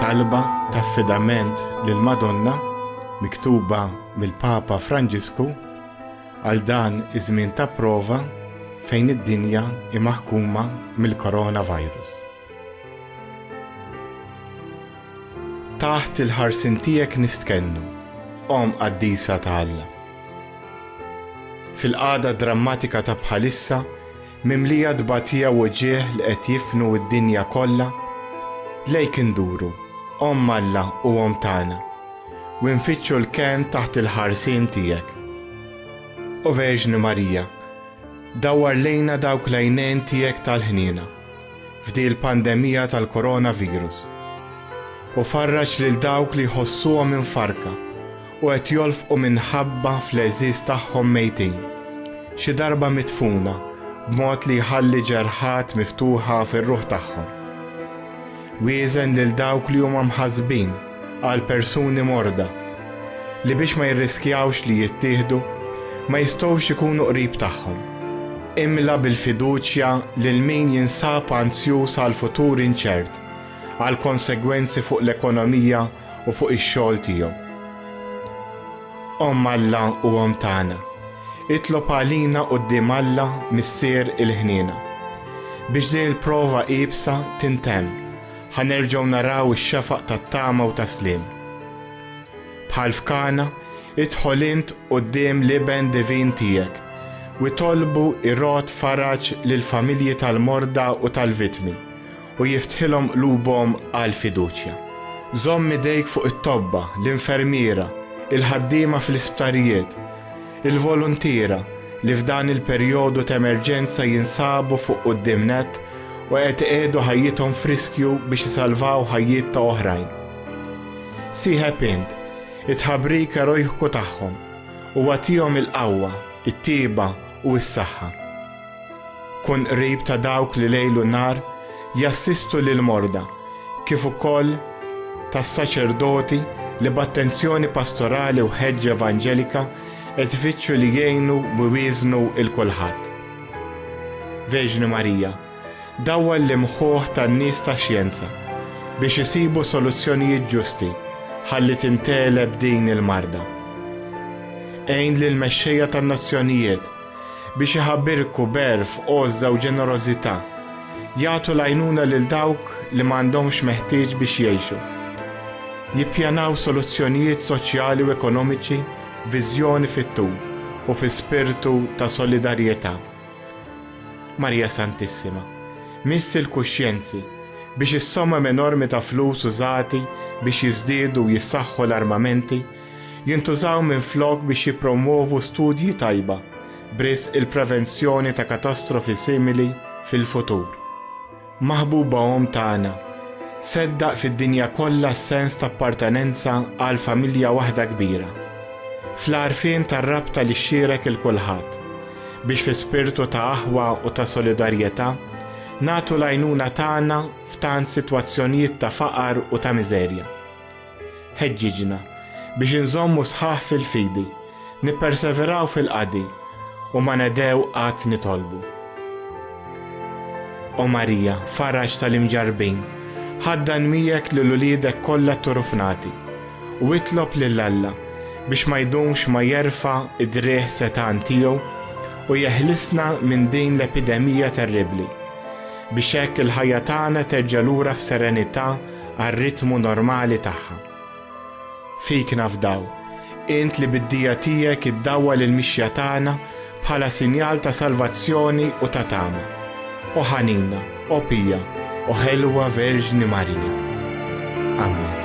Talba ta' affidament lil Madonna miktuba mill-Papa Franġisku għal dan iż-żmien ta' prova fejn id-dinja imaħkuma mill-coronavirus. Taħt il-ħarsien tiegħek nistkennu, Omm Qaddisa ta' Alla. Fil-qagħda drammatika ta' bħalissa, mimlija tbatija u wġigħ li qed jifnu d-dinja kollha, lejk induru, Omm Alla u Omm tagħna, u nfittxu l-kenn taħt il-ħarsien tiegħek. O Verġni Marija, dawwar lejna dawk l-għajnejn tiegħek tal-ħniena. f'di l-pandemija tal-Coronavirus u farraġ lil dawk li jħossuhom imfarrka u qed jolfqu minħabba fl-għeżież tagħhom mejtin, xi darba midfuna b'mod li jħalli ġerħat miftuħa fir-ruħ tagħhom. Wieżen lil dawk li huma mħassbin, għal persuni morda li biex ma jirriskjawx li jittieħdu ma jistgħux ikunu qrib tagħhom. Imla bil-fiduċja lil min jinsab anzjuż għal futur inċert, għal konsegwenzi fuq l-ekonomija u fuq ix-xogħol tiegħu. Omm Alla u Omm tagħna, itlob għalina quddiem Alla Missier il-ħniena, biex din il-prova iebsa tintemm, Ħa nerġgħu naraw ix-xafaq tat-tama u tas-sliem. Bħal f'Kana, idħol int quddiem l-Iben Divin tiegħek u itolbu jrodd faraġ lill-familji tal-morda u tal-vittmi u jiftħilhom qlubhom għall-fiduċja. Żomm idejk fuq it-tobba, l-infermiera, il-ħaddiema fl-isptarijiet. Il-voluntiera, li f'dan il-perjodu t'emerġenza jinsabu fuq quddiem nett u qed iqiegħdu ħajjithom f'riskju biex isalvaw ħajjiet ta' oħrajn. Sieħeb int, it-tħabrik erojku tagħhom, u agħtihom il-qawwa, it-tjieba u s-saħħa. Kun qrib ta' dawk li lejl u nhar jassistu lill-morda kif ukoll tas-saċerdoti li b'attenzjoni pastorali u ħeġġa evanġelika qed ifittxu li jgħinu u jwieżnu 'l kulħadd. Verġni Marija, dawwal l-imħuħ tan-nies tax-xjenza biex isibu soluzzjonijiet ġusti ħalli tintgħeleb din il-marda. Għin lill-mexxejja tan-nazzjonijiet biex iħabirku b'għerf, għożża u ġenerożità, jagħtu l-għajnuna lil dawk li ma għandhomx meħtieġ biex jgħixu, jippjanaw soluzzjonijiet soċjali u ekonomiċi b'viżjoni fit-tul u fi spirtu ta' solidarjetà. Marija Santissima, missi l-kuxjenzi biex is-somom enormi ta' flus użati biex jiżdiedu u jissaħħu l-armamenti jintużaw minflok biex jippromwovu studji tajba b'risq il-prevenzjoni ta' katastrofi simili fil-futur. Maħbuba omm tagħna, seddaq fid-dinja kollha s-sens ta' appartenenza għal familja waħda kbira, fl-għarfien tar-rabta li xxierek 'il kulħadd, biex fi spirtu ta' aħwa u ta' solidarjetà nagħtu l-għajnuna tagħna f'tant sitwazzjonijiet ta' faqar u ta' miżerja. Ħeġġiġna biex inżommu sħaħ fil-fidi, nipperseveraw fil-qadi, u ma nedhew qatt nitolbu. O Marija, faraġ tal-imġarrbin, ħaddan miegħek lil uliedek kollha tturufnati, u itlob lil Alla biex ma jdumx ma jerfa' d-driegħ setgħan tiegħu u jeħlisna minn din l-epidemija terribbli, biex hekk il-ħajja tagħna terġa' lura f'serenità għar-ritmu normali tagħha. Fik nafdaw, int li bid-dija tiegħek iddawwal il-mixja tagħna bħala sinjal ta' salvazzjoni u ta' tama. O ħanina, o pija, o ħelwa Verġni Marija. Amen.